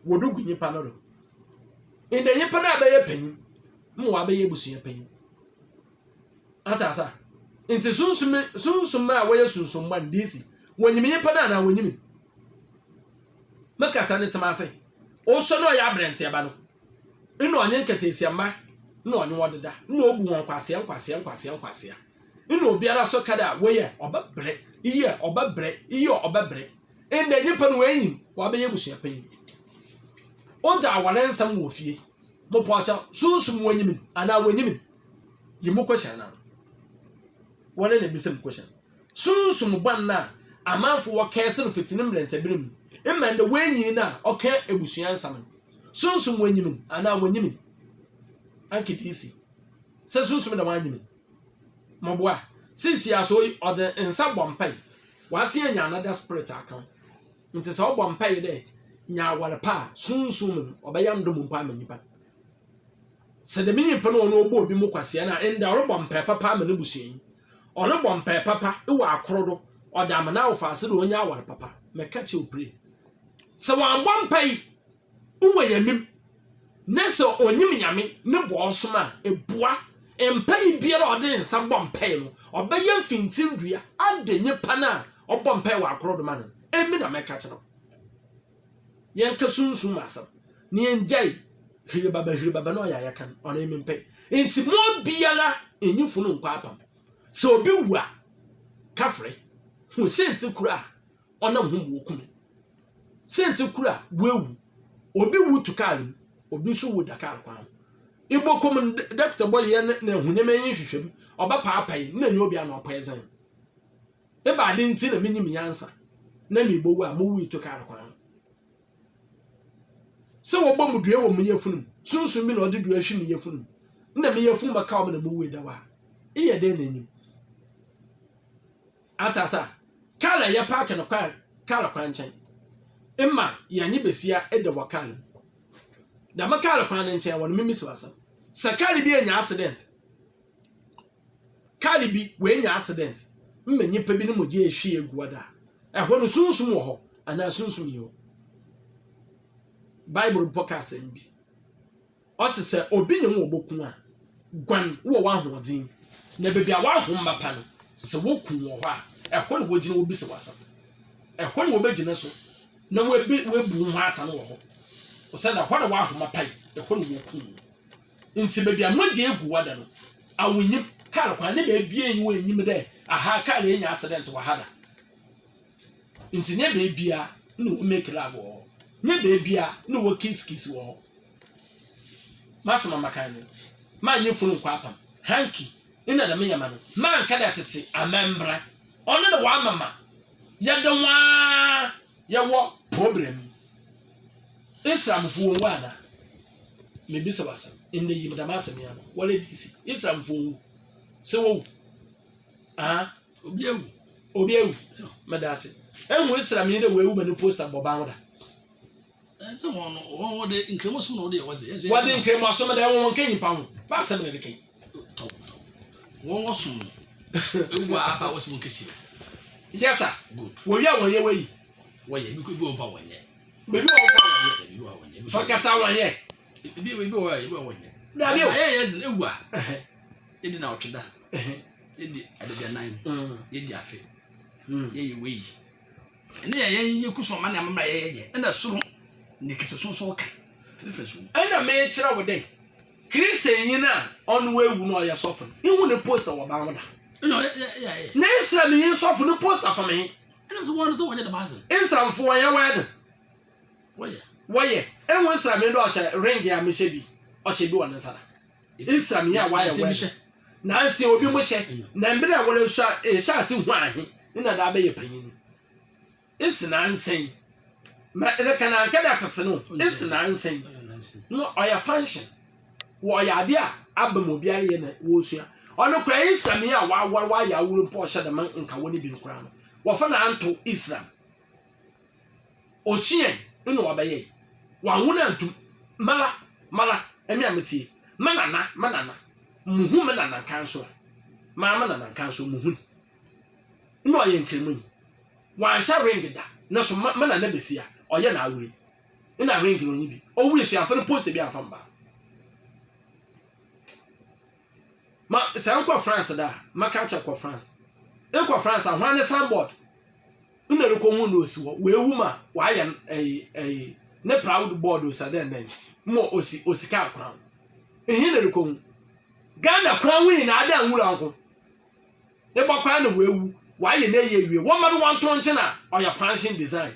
wɔde gu nyimpa no do. Ndɛ nyimpa no abɛyɛ panyin ma wabɛyɛ abusua panyin. Ate asa? Nti sunsum sunsum a wɔyɛ sunsum bɔ no DC. Wɔnyim nyimpa no anaa wɔnyim? Me kasa no tsema ase. Ɔsɔ no ɔyɛ abrɛntseɛ ba no nna ɔnye nkataasia mma nna ɔnye wɔn deda nna obu wɔn nkwasea nkwasea nkwasea nkwasea nna obiara so ka dɛ wɔyɛ ɔbɛbrɛ iyɛ ɔbɛbrɛ iyɛ ɔbɛbrɛ ndɛ nyimpa no wɔanyin wɔabɛyɛ abusua panyin odzi awar nsɛm wɔ fie mopɔkyɛw sunsum wɔnyim anaa wɔnyim yi mo question na wɔn na ebisa mu question sunsum bɔn na amanfo wɔ kɛse no fiti ne mmerɛntɛbere mu mma ndɛ wɔanyin na ɔka ebusua nsɛm no sunsum wɔnyim anaa wɔnyim anke dc sɛ sunsum na wɔanyim mɔboa sisi aso yi ɔde nsa bɔ mpa yi wɔase anya another spirit aka nti sɛ ɔbɔ mpa yi dɛ nya aware pa a sunsum no ɔbɛyɛ ndom mpa ama nipa Sɛ dɛm nyimpa no a ɔno ɔbɔɔ binom kwasea no a, ndɛ ɔrobɔ mpaa papa ama n'ebusuanyi, ɔrobɔ mpaa papa wɔ akor do, ɔdze ama n'awofadze dɛ onya awar papa. Mekã kyerɛ wo pire, sɛ ɔammbɔ mpaa yi, oenyim, na sɛ onyim Nyame no bɔ ɔsom a, boa, mpaa yi biara a ɔdze nsa bɔ mpaa no, ɔbɛyɛ mfintsindua adɛ nyimpa no a ɔbɔ mpaa wɔ akor do ma no no. Emi na mekã kyerɛ wo. Yɛnkɛ sunsum mu asɛm na yɛngyae hiribaba hiribaba na ɔyɛ a yɛka no, ɔno mempɛ. Nti mo biara nyi funu nkɔ apam. Sɛ obi wu a, ka frɛ. Hu sɛnti koro a ɔnam ho mu oku no. Sɛnti koro a woawu. Obi wu to kaar mu, obi nso wu da kaar kwan ho. Ibokom dɔkta bɔ yɛ na ahunim enyi hwehwɛ mu, ɔbɛpaapae na enye obi ano ɔpoison. Eba aden nti na minyim nyansa na mibowu a muwui tokaa no kwan ho? Sɛ wɔbɔ mo dua wɔ mo yafunu mu, sunsum bi na ɔde dua hwe me yafunu mu, na me yafun bɛkaw me na muwui dɛw a, eyɛ dɛn na enyim? Atse asa, kaar na yɛpaake no kwan kaar kwan nkyɛn. Ema yɛnye basia da wɔ kaar mu. Dɛm kaar kwan no nkyɛn wɔ no, mimisiw asɛm. Sɛ kaar bi enya accident, Kaar bi oenya accident ma nyimpa bi no mogya ehwie egu hɔ da a, hɔ no sunsum wɔ hɔ anaa sunsum nnyi hɔ? Bible mpo ka asɛm bi. Ɔse sɛ obi nye wo wɔ boku a, guan wɔ w'ahoɔdzen na beebi a w'ahom bɛpa no, sɛ woku wo wɔ hɔ a, hɔ na wogyina wobisa wo asɛm. Hɔ na wobegyina so na woebu wo ho atan wɔ hɔ osiandɛ hɔ na w'ahom apae, hɔ na woku wo. Ntsi beebi a mogya egu wɔ da no, awonyim, kaar kwan ne beebi a enye wo ennyim dɛ ahaa kaar yi ennya accident wɔ ha da. Ntsi nnyɛ beebi a nna wo make love wɔ hɔ, nnyɛ beebi a nna wɔ kiss kiss wɔ hɔ. M'asɛm a maka nye no, mannye fun nnkɔ apam, hanky, nna dɛm nyɛma no, mannka dɛ tsetse anaa mbra. Ɔno na ɔama ma yɛdze hɔn ara yɛwɔ problem. Islamfoɔ ɔwu ana? Mebisa wo asɛm, ndɛ yi medam asɛm yi ano, wɔre DC, Islamfoɔ ɔwu? Sɛ wɔwu? Aha. Obi awu. Obi awu. Meda ase. Ehu Islam yi dɛ wɔawu ma ne poster bɔ ban wo da. Ɛsɛ wɔn no, wɔn wɔde nkramosom na wɔde yɛ wɔdze. Ɛsɛ wɔde nkramosom dɛ wɔn nka nyimpa ho. Basɛm na ɛde kan. Tɔw tɔw. Wɔn wɔsom no. Ewu a aba wɔsɛ wɔn kesi. Yes sir. Good. Wɔwia wɔn yɛ wɔyi. wɔyɛ ebi bi wɔ hɔ a wɔnyɛ ebi wɔ hɔ a wɔyɛ ebi wɔ hɔ a wɔnyɛ ebi wɔ kasa wɔnyɛ ebi ebi wɔ hɔ a ebi wɔ wɔnyɛ dabi o ayɛ yɛ dze ewu a yɛdi na ɔtwe da yɛdi adadianan mm. yɛdi afe mm. yɛyɛ wei ɛne yɛ yɛn yɛ kusu ɔma ne amamra yɛ yɛ yɛ ɛna soro ne kese sonson ka ɛna mekyerɛ wo dɛ kristian nyin a ɔno wawu na ɔyɛ sɔfo no ihu ne posta wɔ ban ho da na nsira mi yi sɔfo no posta fam yi. Ɛna nso wɔn nso wɔnyɛ dɛm adze. Nsamfo wɔnyɛ wedding. Wɔyɛ. Wɔyɛ. Ehu nsira mi do a ɔhyɛ ring a mehyɛ bi ɔhyɛ bi wɔ ne nsa da. Nsira mi a wɔayɛ wedding. Nanse obi mo hyɛ. Na mber a wɔresua nhyɛase hu ahe ne na daa bɛyɛ panyin no. Ese nanse yi. Mɛ reka no anka dɛ atsetse no o. Ese nanse yi. No ɔyɛ function. Wɔyɛ ade a aba mu obiara yɛ na wɔresua. Ɔno koraa yi nsɛm yi a wɔawɔre wɔayɛ aworo mpo ɔhyɛ dɛ ma nka wɔne bi no koraa no wɔfa na anto Islam. Ɔsuae na wɔbɛyɛe. Wɔanwo no antom. Mala, mala, ɛme a metie. Me nana, me nana, muhu me nana nkanso a, maa me nana nkanso muhu no. Na ɔyɛ Nkramoni. Wanhyɛ ring da. Nanso me nana bɛsi a, ɔyɛ n'aworo yi. Wo na ring no nye bi. Owu no suafo no poster bi anfa mba. Ma sɛ nkɔ France da a, ma ka kyɛ kɔ France. Ekɔ France a hwan ne signboard? Wo na rekɔ hu no osi hɔ. Oewu ma wɔayɛ no ɛyi ɛyi ne proud board osi dɛn dɛn. Mo osi osi kaa kwan. Ehe na rekɔ hu? Ghana kwan ho nyinaa dɛ nwura nko. Ebɔ kwan na oewu. Wɔayɛ no eyi ewie. Wɔma do wɔnto nkyen a ɔyɛ Fransian design.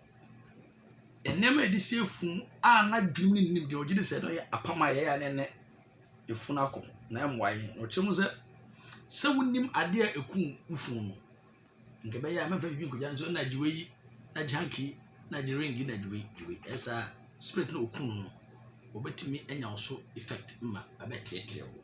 Nneɛma a yɛde si funu a n'adwenem no nnim deɛ ɔgye di sɛ ɛno yɛ apam a yɛyɛ a ɛne ne funu akɔ na ɛmmoa yɛn. Na ɔkyerɛ mu sɛ, sɛ wonim adeɛ a ɛkum wo funu no, nka ɛbɛyɛ a mɛmfa biribi nkɔgya no sɛ na gye wei, na gye hanky, na gye ring, na gye wei, gye wei. Ɛyɛ saa a, spirit no a ɔkum no no, ɔbɛtumi anya wo so effect ma abɛteɛteɛ wo.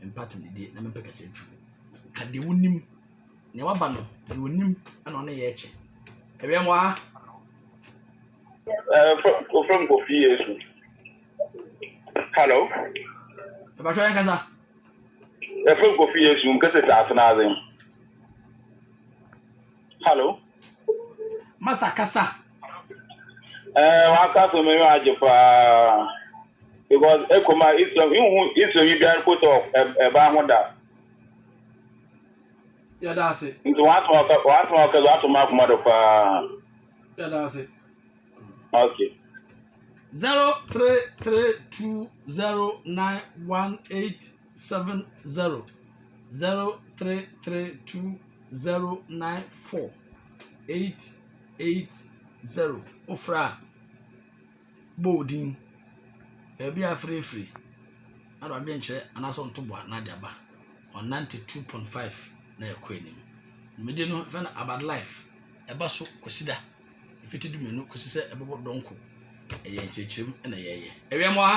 Mempɛ tumidie na mempɛ kɛseɛ tu. Ka deɛ wonim, nea waba no, deɛ onim na ɔne yɛ kyɛ. Awɛmmoaa. Uh, from, from Kofi Yesu. Hello? Ẹ̀bàtọ́ yẹn kasa. Ẹ from Kofi Yesu nkese saase n'adze. Hello. Masa kasa. Eh, waka so me agye paa. Because ekoma iso ihu iso yi biara ko so e ba ho da. Ya da ase. Nti wa so ka wa so ka wa to ma kuma do paa. Ya da ase. Okay. 03320918 seven zero zero three three two zero nine four eight eight zero wofrɛ a bɔ wo din baabi a afrɛ firi na de adwenkyerɛ anaasɛ ntoboa na de aba on ninety two point five na ɛkɔ anim mmedi no fɛn no about life ɛba so kwasida efiti du mmienu kwasi sɛ ɛbɛbɔ dɔnko ɛyɛ nkyerɛkyerɛm na ɛyɛyɛ ɛwia mu ha.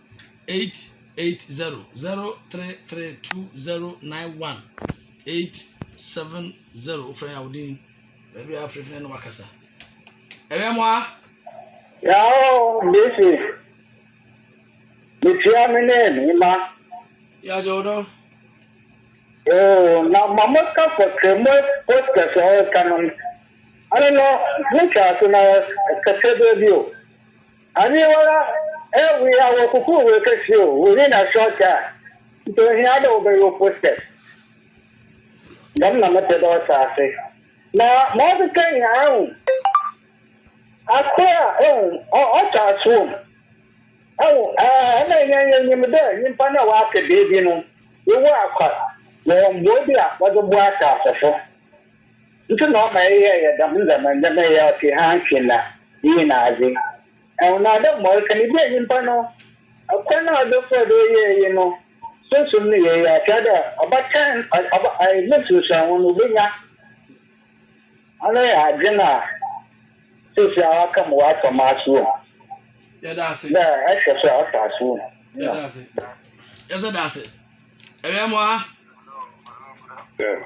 eight eight zero zero three three two zero nine one eight seven zero wofrɛ yɛ awodin baabi a afrɛfrɛ no wakasa ɛbɛ mo a yawo mesi metua me ne me ma yɛagye wo dɔ na mama ka fɔ tremɔ pɔtɛ sɛ ɔreka no ano no metwa ase na ɛkɛsɛ baabi o Awiei wara ɛ wei a wɔ koko wei kɛseɛ o wei ne na short a nti ohia dɛ wobɛ yo posters dɛm na mepɛ dɛ ɔsɛ ase na ma ɔkeka yi haa hu akora ehu ɔ ɔtɔ asoɔ mu ehu ɛɛ ɛna ɛnyɛ yɛ nyim dɛ nyimpa na wɔ aka beebi no yɛ wɔ akwa wɔ wɔn boɔ bi a wɔde boa asaase so. Nso na ɔma yɛyɛɛ dɛm ndzɛmba ndzɛmba yi a ɔtse ha nnhwɛ nna iyi n'adze. Nna dɛ mbrɛ ɔreka no, ibue nyimpa no kwan a ɔdze faa do yɛɛ iyi no sunsum no yie ara, kyerɛ dɛ, ɔbɛtan ɔbɔ ne nsunsuanho no obenya. Ɔno yɛ adwen a seseiara ɔaka mu wɔ Asaomahase wɔ mu, Yɛda ase. dɛ ɛhwɛ so a ɔtɔ ase wɔ mu. Yɛda ase. Yɛso da ase. Ewɛmbowa. Sir.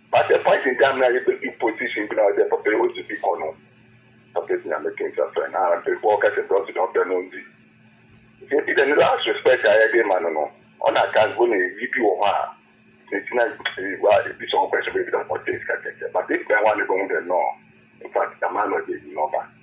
But a point in time na yɛ bɛ du position bi na ɔsɛ papa yi ɔsi bi kɔ no papa si nyame to nsa frɛ no ara before ɔka sɛ brɛ ɔsi dɛ ɔbɛ no ɔndzi nti ebi dɛ ne last respect a yɛde ma no no ɔna aka mpo na eyi bi wɔ hɔ a ne gyina eyi wa ebi sɛ ɔkɔ ɛsɛ bɛ bi dɛ ɔtɛ sika kɛkɛ but ebi bɛn hɔ a na ɛbɛ hu dɛ nɔɔ infact dɛm ara na ɔde eyi na ɔba.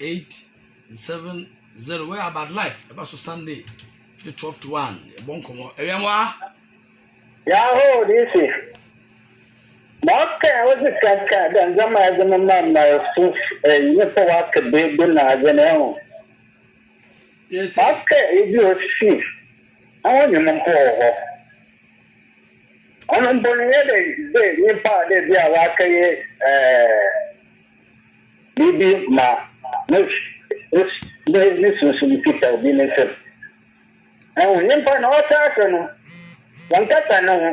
eight seven zero where about life ɛba so sunday fi twelve to one ɛbɔ nkɔmɔ ɛwia mu a. yahoo dc mɔkɛ ɔsi kaka dɛ ndzɛmba yɛdze no ma mmarfo ɛyi ne pɛ waka beebi na adze no ɛho mɔkɛ ebi osi na wɔnyim mpo wɔ hɔ ɔno mpo no yɛ dɛ dɛ nyimpa a dɛ bi a waka yɛ ɛɛ. biribi ma ne ne ne sunsum kita obi ne nsam. Ɛho nyimpa na ɔtaa asɛ no, wɔnnkasa no ho.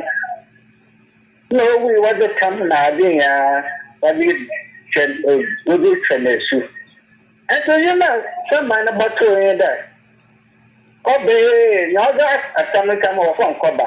Nna owu yi wɔdze tam na adze nyinaa wɔdze twɛn wɔdze twɛn esu. Nso yim a saman no bɔtoo nye dɛ, ɔbɛyɛɛ nyia ɔdze asɛm ntsɛm wɔ fam kɔba.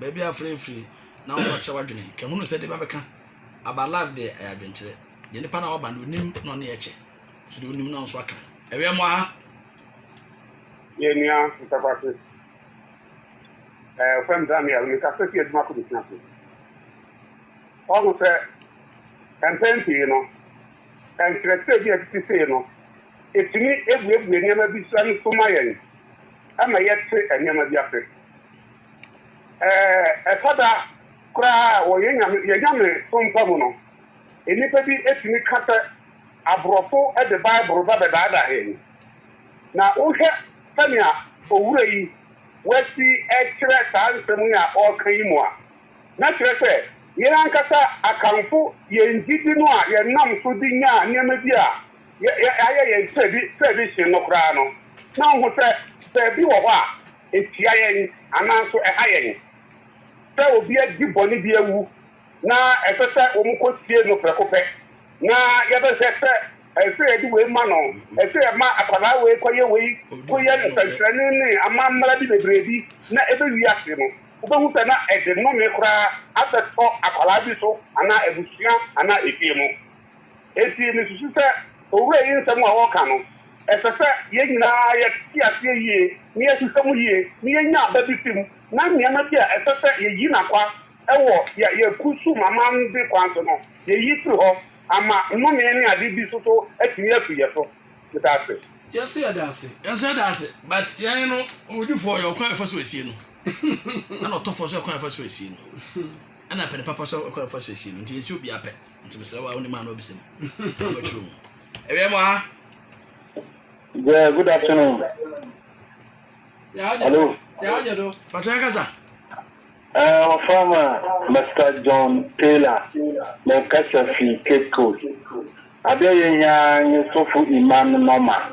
Baabi a afra firi na wɔn akyerɛ w'adwene ka hunu sɛ deɛ bɛbɛka about life deɛ ɛyɛ adwenkyerɛ deɛ nipa na waba no onim na ɔne yɛ kyɛ so deɛ onim na nso aka ɛwɛ mu aha. Yɛ nua ntakwase ɛɛ fam Daniel ne kasa fi adwuma kɔ bisina so ɔho sɛ mpɛn pii no nkyerɛkyerɛ bi a ɛtete sei no ɛtumi ebuebue nneɛma bi so ma yɛn ɛma yɛte nneɛma bi ase. Ɛɛ, ɛtɔ da koraa a wɔ yɛn Nyame, yɛn nyamesom pa mu no, nnipa bi tumi ka sɛ aborɔfo de Bible ba bɛdaadaa yɛn. Na wohwɛ sɛnea owura yi wasi kyerɛ saa nsɛm yi a ɔreka yi mu a, na kyerɛ sɛ yɛn ankasa akamfo yɛn gyidi no a yɛnam so de nya nneɛma bi a yɛayɛ yɛn tradition no koraa no, na ohu sɛ baabi wɔ hɔ a Etia yɛn, anaaso ɛha yɛn, sɛ obi adi bɔne bi awu na ɛsɛ sɛ wɔkosie no prɛko pɛ, na yɛbɛhwɛ sɛ ɛsɛ yɛde wei ma no, ɛsɛ yɛma akwadaa wei kɔyɛ wei, koyɛ nsɛnkyerɛnne ne amammara bi bebree bi na ebewie ase no, wubehu sɛ na ɛde nnome koraa abɛtɔ akwadaa bi so anaa abusua anaa efie mu. Enti misusu sɛ owura yi nsɛm a ɔreka no, ɛsɛ sɛ yɛn nyinaa yɛte aseɛ yie na yɛhwehwɛ mu yie na yɛnya aba bi fi mu, na nneɛma bi a ɛsɛ sɛ yɛyi no akwa wɔ yɛn kusum amande kwan so no, yɛyi firi hɔ ama nnome ne ade bi so so atumi afiri yɛn so. Meda ase. Yɛ se yɛda ase. Yɛ nso yɛda ase. But yɛn no, owudifoɔ, ɔyɛ ɔkwan a yɛfa so esie no, ɛna ɔtɔfoɔ nso yɛ ɔkwan a yɛfa so esie no. Ɛna pɛ ne papa so ɛkɔ ɛfa so esie no nti ensi obi apɛ nti mesrɛ wa onim a na wabisa mu na ɔkyerɛ mu ɛwia mu aha. Yeah, good afternoon. Hello. Patrɔ yɛn kasa. Uh, wɔfrɛ ma Mr. John Taylor ne kasa fi Cape Coast. Adeɛ yɛhia nye sɔfo Iman Noma.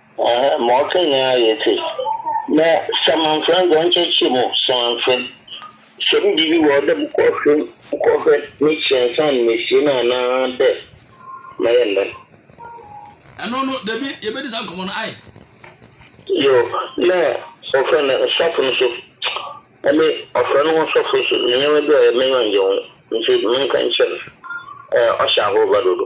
Ɛhɛ, ma ɔka nyinaa yɛ tse dɛ samanfrɛ, ndze ɔnnkyerɛkyerɛ mu samanfrɛ. Sɛ me biribi wɔ hɔ dɛ mokɔhwɛ mu, mokɔhwɛ m'ekyir ansaana meesie no anaa dɛ mɛyɛ no dɛn? Ɛno no, dabi, yɛbɛdi saa nkɔmmɔ no, ae? Yoo, na wɔfrɛ no nsɔfo no so. Ɛne, ɔfrɛ no ho nsɔfo nso, ndzɛmba bi a ɔyɛ m'enyiwa nngye ho ntsi, mennka nkyerɛ no. Ɔhyɛ ahorba dodo.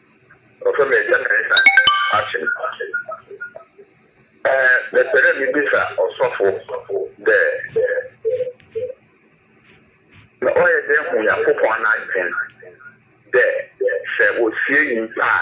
Ɔfrɛ me Agya Mensa Achen. Eh, mepɛ dɛ mibisa ɔsɔfo dɛ, sɛ ɔyɛ dɛn hu Nyankopɔn n'adwen dɛ sɛ wosie nyimpa a,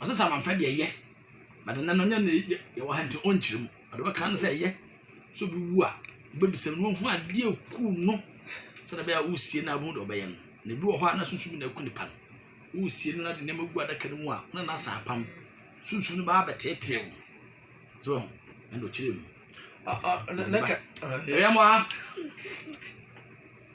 Ɔsɛ sɛ amanfrɛ deɛ ɛyɛ, but ɛnɛ no ɔnyɛ na ɛyɛ, yɛwɔ ha nti ɔnkyerɛ mu, ɔde bɛka no sɛ ɛyɛ, sɛ obi wu a, wobɛbisa no wahu adeɛ ɛku no, sɛdeɛ bɛyɛ a woresie no a wobɛhu deɛ ɔbɛyɛ no, na ebi wɔ hɔ a na sunsum na ɛku nipa no, woresie no na de nneɛma gu adaka no mu a, na na asa apam, sunsum no baa bɛteetee wo, so ɛho, ɛna ɔkyerɛ mu. Ɛyɛ mo ha?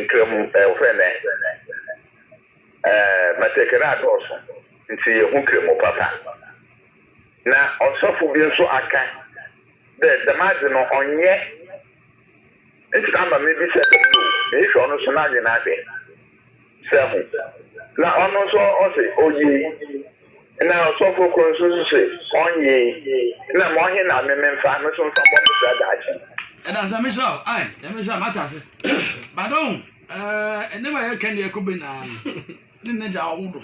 Nkramu ɛhwɛ nɛ ɛɛ batakari adɔɔso nti yɛhu kramu papa. Na ɔsɔfo bi nso aka dɛ dɛm adze no ɔnnyɛ ntsena ama mebisa dɛm no o, mehwehwɛ ɔno so n'adwen adze. sɛ ho, na ɔno nso ɔse ɔyei, na ɔsɔfo koro nso nso se ɔnyei, na ma ɔhe na me me mfa me so mfa mmɔ me bra daakye? Ɛda ase, Nyame nhyira wo. Ae, Nyame nhyira, mate ase. But ohu, eh, nneɛma a yɛka ne yɛkɔ bɛ nyinaa no, ne n'agya a ɔwo do.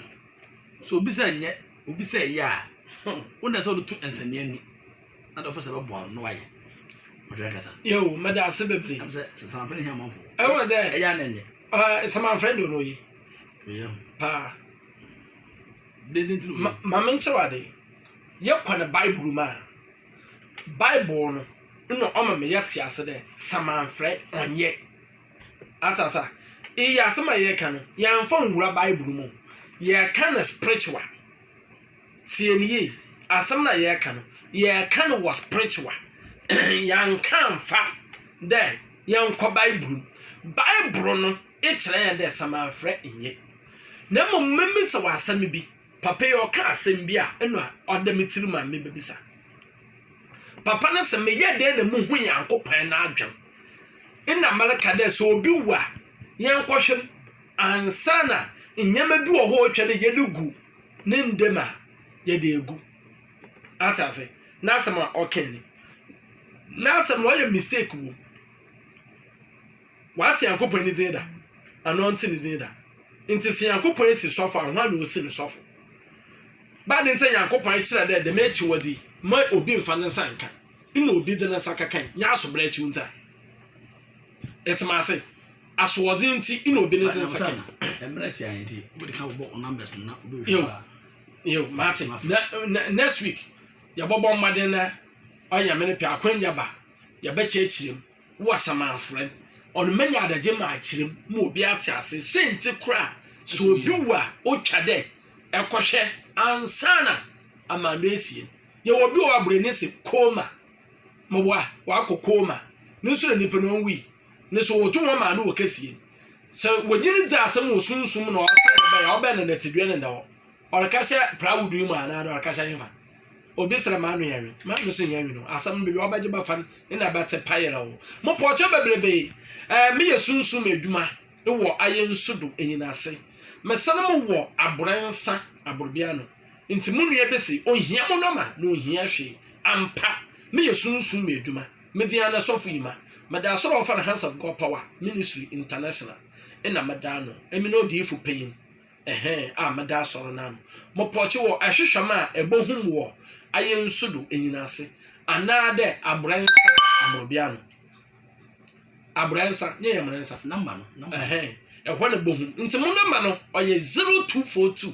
So obi sɛ nyɛ, obi sɛ yɛ a, wo na ɛsɛ wode to nsɛnneani. na dɔfo sɛ bɛboa no wayɛ ɔdwɛ nkasa yoo mɛda ase bebree ɛm sɛ samanfrɛ ne hiamanfo ɛwɔ dɛ ɛyɛ anɛ nyɛ ɛɛ samanfrɛ do no yi ɔyɛ ho paa dede ntiri ma ma me nkyerɛ wade yɛkɔ ne bible mu a bible no na ɔma me yɛte ase dɛ samanfrɛ ɔnyɛ atasa yɛ asɛm a yɛka no yɛmfa nwura bible mu yɛka no spiritual Tie no yie, asɛm no a yɛreka no, yɛreka no wɔ spiritual. Yɛanka amfa dɛ yɛnkɔ Bible mu. Bible no kyerɛ yɛn dɛ samanfrɛ nye. Na mmom mebisa wo asɛm bi, papa yi ɔka asɛm bi a nna ɔda me tirim a mebebisa. Papa no se meyɛ dɛn na muhu Nyankopɔn n'adwen? Nna mereka dɛ sɛ obi wu a, yɛnkɔhwɛ m' ansa na nneɛma bi wɔ hɔ a otwa dɛ yɛde gu ne ndɛ mu a yɛdze egu. Atse ase? N'asɛm a ɔkãe no, n'asɛm no ɔyɛ mistake wɔ mu. Ɔatse Nyankopɔn ne dzin da, anaa ɔnntse ne dzin da. Ntsi sɛ Nyankopɔn esi sɔfo a, woana osi no sɔfo? Ba ne ntsi Nyankopɔn kyerɛ dɛ dɛm ekyiwadze yi, mma obi mmfa ne nsa nnkã. Nna obi dze ne nsa kɛkãe, nyɛ asoberɛkyew ntsi a. Etse me ase? Asoɔdzen ntsi na obi ne nsa kã no. Nyew, nyew, matse. Nɛ nɛ next week, yɛbɔbɔ mbɔdzen na ɔyɛ Nyame ne pɛ a, akwanya ba a, yɛbɛkyerɛkyerɛ mu wɔ asamanfrɛ no. Ɔno menya adagye makyerɛ mu ma obi atse ase. Siantsir koraa a, sɛ obi wu a, otwa dɛ ɛkɔhwɛ ansaana amando esie no. Yɛwɔ obi wɔ hɔ a, bra n'ese coma. Mboa, ɔakɔ coma. No so na nyimpa no onnwui. No so wɔto hɔn maa no wɔ kɛsie. Sɛ wɔnyin no dzi asɛm wɔ sunsum mu na ɔsɛɛ no bɛn a, ɔbɛn no na tsidua no nda hɔ. Ɔreka hyɛ prawodo yi mu a anaadɛ ɔreka hyɛ henfa? Obi serɛ m'ano yɛ nwen. M'ano so nnyɛ nwen o. Asɛm no bɛwie a, ɔbɛgye bɛfa no na ɛbɛtse payerɛw. Mopɔ ɔkyɛ bebrebee. Ɛɛ, meyɛ sunsum edwuma wɔ ayɛnsu do enyin ase. Mesan mo wɔ aborɛ nsa aborɔbea ano. Ntsi mo nua bi se, Onnhia mo nɔma na onnhia hwee. Ampa, meyɛ sunsum edwuma. Mivian na sɔfo yi ma meda asɔr a wɔfrɛ no Hands of God Power Ministry International na meda ano. Emi na odiyifo panyin ɛhɛn a meda asɔr no ano. Mopɔkye wɔ ahwehwɛm a ɛbɔhum wɔ ayɛ nsu do enyin ase anaa dɛ aborɛ nsa amorɔbea ano. Aborɛ nsa nye yɛ mmerɛ nsa. Number no. Number. Ɛhɛn, ɛhɔ na ɛbɔhum. Nti mo number no ɔyɛ zero two four two.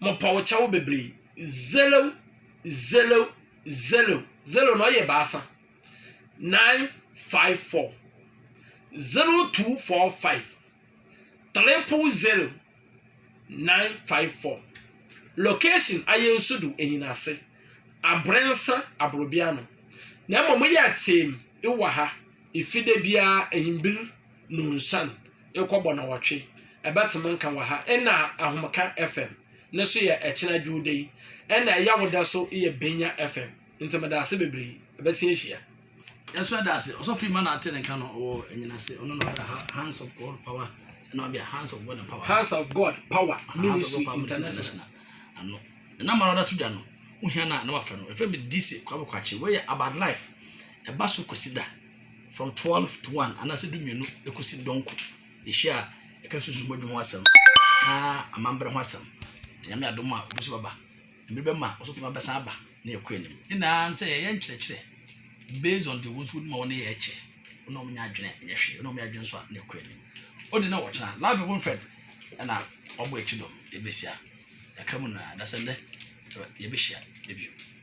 Mopɛ wo kyɛw bebree. Zero, zero, zero. Zero no ɔyɛ baasa. Nine, five, four. Zero, two, four, five. Triple zero, nine, five, four. Location ayɛ nso do enyinase. Abrɛ nsa abrobea no. Na mmom yɛ ateem wɔ ha. Efide biara ehimbir Nonsan rekɔ bɔnawɔtwe ɛbɛtema nka wɔ ha ɛna ahomeka fm ne so yɛ ɛkyena dwuuda yi ɛna ɛyawodɛ so yɛ benya fm nti meda ase bebree ɛbɛsi ahyia. Yɛn so ɛda ase ɔsɔfo yi ma na ate ne nka no wɔ ɛnyina ase ɔno na ɔda hands of God power ɛna ɔde hands of God power hands of God power ministry international ano ɛna ma na ɔda to dwa no wohia na na wafɛ no ɛfɛ mi DC kwabokwachi wɔyɛ about life ɛba so kwasi da. from twelve to one anaasɛ du mmienu ekosi dɔnko ehyia a ɛka susu bɔdwe ho asɛm ɛka amambra ho asɛm te nyame adom a obi so bɛba mmiri bɛma ɔso tuma bɛsan aba na yɛkɔ anim ne naa sɛ yɛyɛ nkyerɛkyerɛ based on the wɔn nso wɔn a wɔn yɛ ɛkyɛ wɔn a wɔn nyɛ adwene nyɛ hwee wɔn a wɔn yɛ adwene nso a na ɛkɔ anim ɔde na wɔkyena lab ɛwɔ nfɛn ɛna ɔbɔ akyi dɔm ebesia ɛka mu na adasɛ nnɛ yɛbɛhyia ebi.